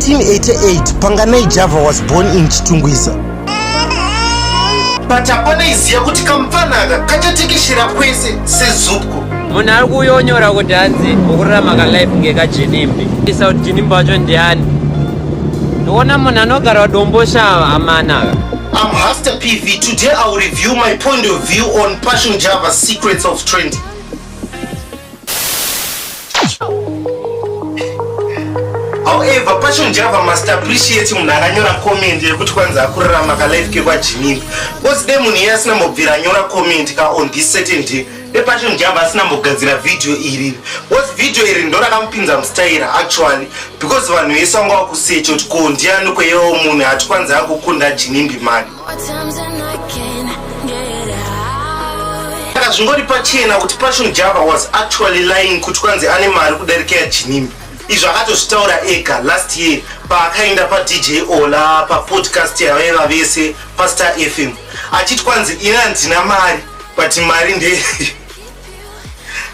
1988 Panganai Java was born in Chitungwiza. But hapana iziya kuti kamfanaka kachatekeshera kwese sezupko. Munhu ari kuyonyora kuti hanzi ukurarama kalife ngekajinimbi. Isa kuti jinimbi wacho ndiani? Ndoona munhu anogara domboshava amanaka. I'm Hasta PV. Today I'll review my point of view on Passion Java Secrets of Trending. however pacho njava must appreciate munhu akanyora comment yekuti kwanzi akurarama kalife kekwajinini bcause de munhu iye asina mbobvira anyora comment ka on this certain day de pacho njava asina mbogadzira vhidhiyo iri bcause vhidhiyo iri ndorakamupinza mustaira actually because vanhu vese vanga vakusecha kuti ko ndiani kweyewo munhu hati kwanzi akukunda jinimbi mani Saka zvingori pachena kuti Passion Java was actually lying kuti kwanzi ane mari kudarika yaJinimbi. Izvi akatozvitaura ega last year paakaenda paDJ Ola papodcast yavaiva vese paStar FM achiti kwanzi ini handina mari but mari ndeye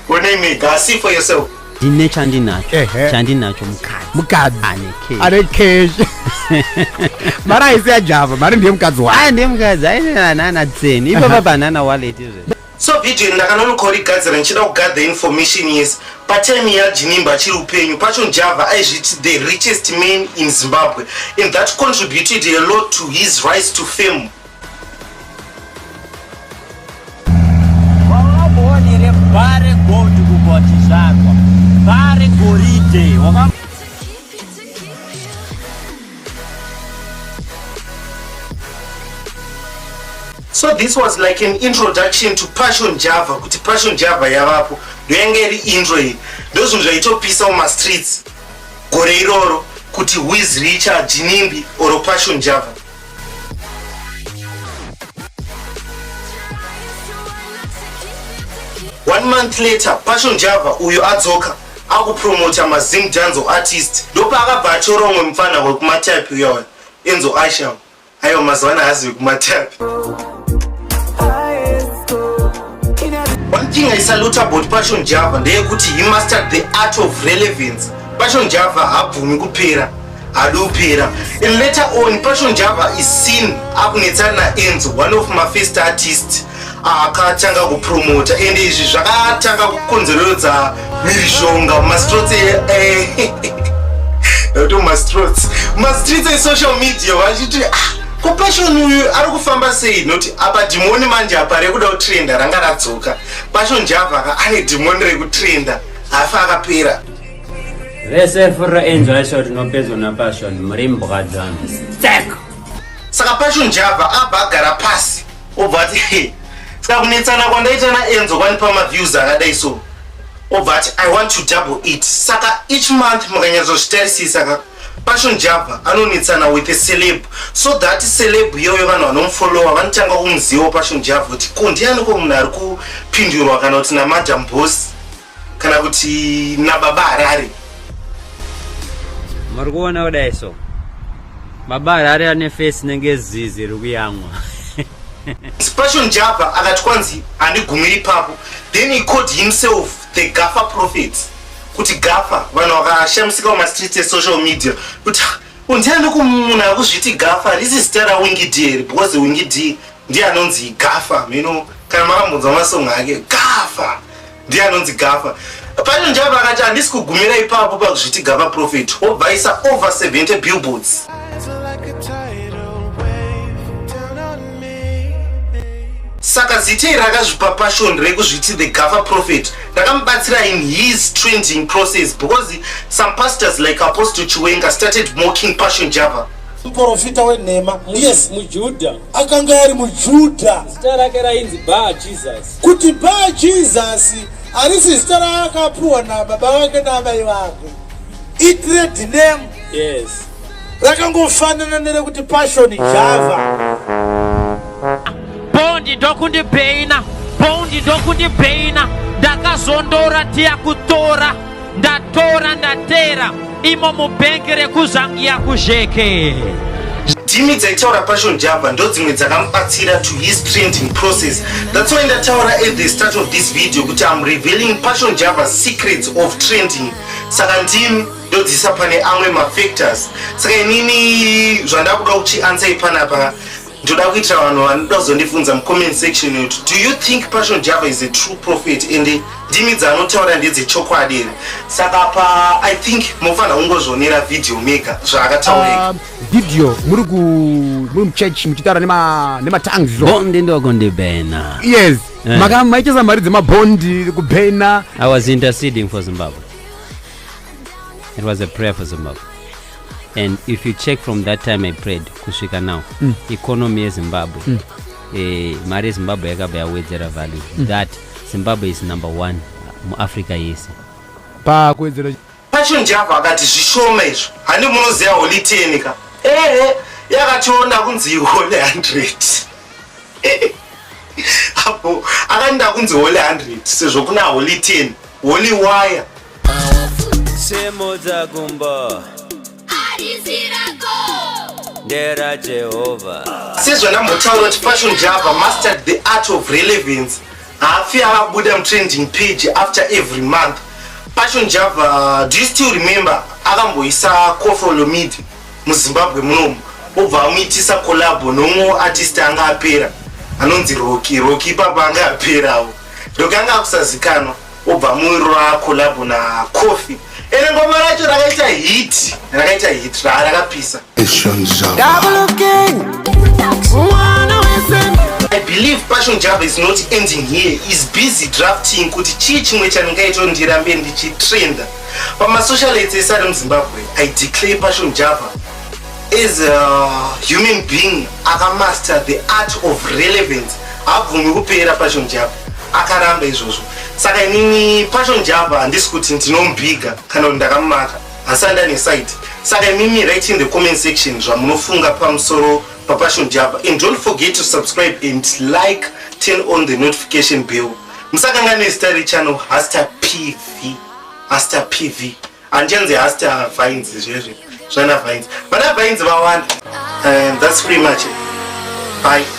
onei mega see for yourself. ndine chandinacho Ehe. chandinacho mukadzi mukadzi ane cash. ane cash mari haisi yajava mari ndiye mukadzi wake aya ndiye mukadzi ainanana tseni ipapa panana wallet izvezvi so video iri ndakanonokorigadzira ndichida kugather information yes patime yajinimba achiri upenyu pacho java aizviti the richest man in zimbabwe and that contributed a lot to his rise to fame so this was like an introduction to passion java kuti passion java yavapo ndoyanga iri intro iyi ndozvinhu zvaitopisa mumastreets gore iroro kuti wizricha jinimbi or passion java one month later passion java uyo adzoka akupromota mazim danzo artist ndopaakabva atyora umwe mupfanha wekumatype uyawa enzo asham aiwa mazuva ana hazi vekumatype one thing i salute about passion java ndeyekuti he mastered the art of relevance passion java habvumi kupera adopera and later on passion java is seen akunetsana naenzo one of my first artist akatanga kupromota ende izvi zvakatanga kukonzererodza mhirizhonga mastrots nokuti eh, mastrots mastreets esocial media vachiti ah, ko passion uyu ari kufamba sei noti apa dhimoni manje apa rekuda kutrenda ranga radzoka passion java ka ane dhimoni rekutrenda hafa akapera vese furira enjoy show tinopedzwa napassion muri mbwa dzanu stek saka passion java abva agara pasi obva ati saka kunetsana kwandaita naenzo kwandipa maviews akadai so obva ati i want to double it saka each month mukanyatsozvitarisisa ka passion java anonetsana with a celeb so that celeb iyoyo vanhu vanomufolowa vanotanga kumuzivawo passion java kuti ko ndiani ko munhu ari kupindurwa kana kuti namadam boss kana kuti nababa harare muri kuona kudai so baba harare ane fesi nenge zizi rikuyamwa Passion Japa akati kwanzi handigumiri ipapo then he called himself the Gafa prophet kuti Gafa vanhu vakashamisika pamastreets esocial media kuti undiani kumunhu akuzviti Gafa risi zita rawingidi here because wingidi ndiye anonzi gafa mino kana makambonzwa masong ake gafa ndiye anonzi gafa pano njava vakati handisi kugumira ipapo pakuzviti gava profit wobvaisa over 70 billboards saka zitei rakazvipa pashon rekuzviti the gafa profit rakamubatsira in his trending process because some pastors like apostle chiwenga started mocking pashon java muporofita wenhema yes mujudha akanga ari mujudha zita rake rainzi bar jesus kuti bar jesus harisi zita raakapuwa nababa vake naamai vake itred name yes rakangofanana nerekuti passion java bondi ndokundibheina bondi ndokundibheina ndakazondora tiya kutora ndatora ndatera imo mubhengi rekuzangiya kuzheke ndimi dzaitaura passion java ndodzimwe dzakamubatsira to his printing process that's why ndataura at the start of this video kuti am revealing passion java secrets of trending saka ndimi ndodzisa pane amwe mafactors saka inini zvandakuda kuchiansai panapa ndoda kuitira vanhu vanoda kuzondibvunza mucomment section kuti do you think passion java is a true prophet and ndimi dzaanotaura ndedzechokwadi here saka pa i think mofanira kungozvionera video mega zvaakataureka um, video muri ku muri muchurch muchitaura nematangs nema bondi ndokundibhena yes eh. maka maichesa mari dzemabondi kubhena i was interceding for zimbabwe it was a prayer for zimbabwe and if you check from that time i prayed kusvika now mm. economy yezimbabwe mm. eh, mari yezimbabwe yakabva yawedzera value mm. that zimbabwe is number one muafrica yese pakuwedzera pachonjava akati zvishoma izvo handi munoziva holiteni ka ehe yakationa kunzi ihole 100 apo akanida kunzi hole 100 sezvo kuna holi 10 holi waya Semo dzakumba Harisi rako ndera Jehovha. sezvanambotaura kuti fashion java mastered the art of relevance haafi avabuda mutrending page after every month fashion java do you still remember akamboisa cofolomid muzimbabwe munomu obva amuitisa collabo nomwe artist anga apera anonzi roki roki ipapa anga aperawo roki anga akusazikanwa Obva muwiro ra collab na Coffee. Ere ngoma racho rakaita hit, rakaita hit ra rakapisa. Passion Java. Double king. Mwana wese. I believe Passion Java is not ending here. Is busy drafting kuti chii chimwe chandingaita ndirambe ndichitrenda. Pama socialites esari muZimbabwe, I declare Passion Java as a human being akamaster the art of relevance habvumi kupera passion java akaramba izvozvo saka inini passion java handisi kuti ndinombiga kana kuti ndakamumaka asi andane site saka imimi right in the comment section zvamunofunga pamusoro papassion java and don't forget to subscribe and like turn on the notification bell musakanganwe zita rechannel hasta pv hasta pv Handienzi hasti havhainzi zvezvi zvana vhainzi. Vana vhainzi vawanda. And that's pretty much it. Bye.